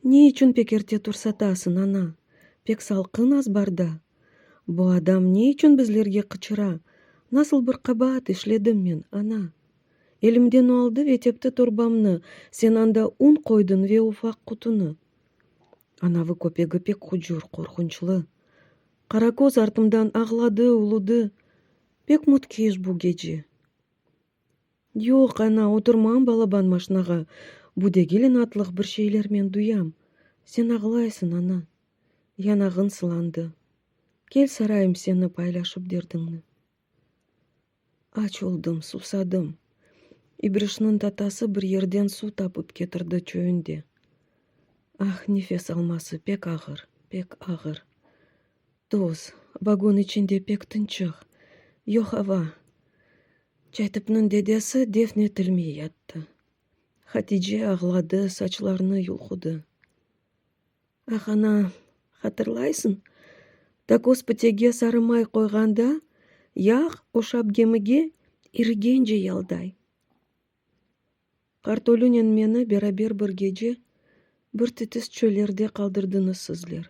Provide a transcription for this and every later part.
Ne içün pek erte tursatasıñ, ana? Pek salqın az barda. Bu adam ne içün bizlerge qıçıra? Nasıl bir qabaat işledim men, ana? Elimden o aldı ve tepti torbamnı, sen anda un qoydıñ ve ufaq qutunı. Anavı köpegi pek hucur, qorqunçlı. Qaraköz artımdan ağladı, uludı. Pek mütkeş bu gece. Yoq, ana, oturmam balaban maşnağa, bu degil inatlıq bir şeylermen duyam. Sen ağlaysıñ, ana. Yanağıñ sılandı. Kel sarayım seni paylaşıp derdiñni. Aç oldım, susadım. İbrişniñ tatası bir yerden suv tapıp ketirdi çöyünde. Ah, nefes alması pek ağır, pek ağır. Tuz, vagon içinde pek tınçıq, yoq ava. Çaytıpnıñ dedesi defn etilmey yattı. Hatice ağladı, saçlarını yulğudı. Ah, ana, hatırlaysıñ, takoz pitege sarı may qoyğanda, yağ oşap gemige irigence yalday. Qartolünen meni beraber bir gece bir titis çöllerde qaldırdıñız sizler.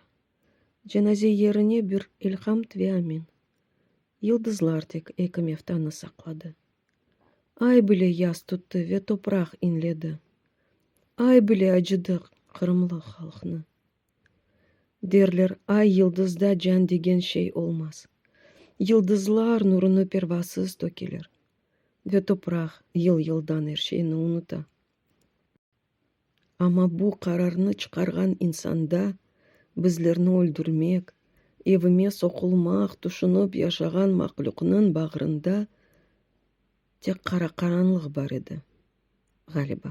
Cenaze yerine bir elhamd ve amin. Yıldızlar tek eki meftanı saqladı. Ay bile yas tuttı ve topraq inledi. Ay bile acıdı qırımlı halqnı. Derler, ay-yıldızda can degen şey olmaz. Yıldızlar nurunı pervasız tökeler. Ve topraq yıl-yıldan er şeyni unuta. Amma bu qararnı çıqarğan insanda bizlerni öldürmek, evime soqulmaq tüşünip yaşağan mahlüqnıñ bağrında tek qara qaranlıq bar edi, ğaliba.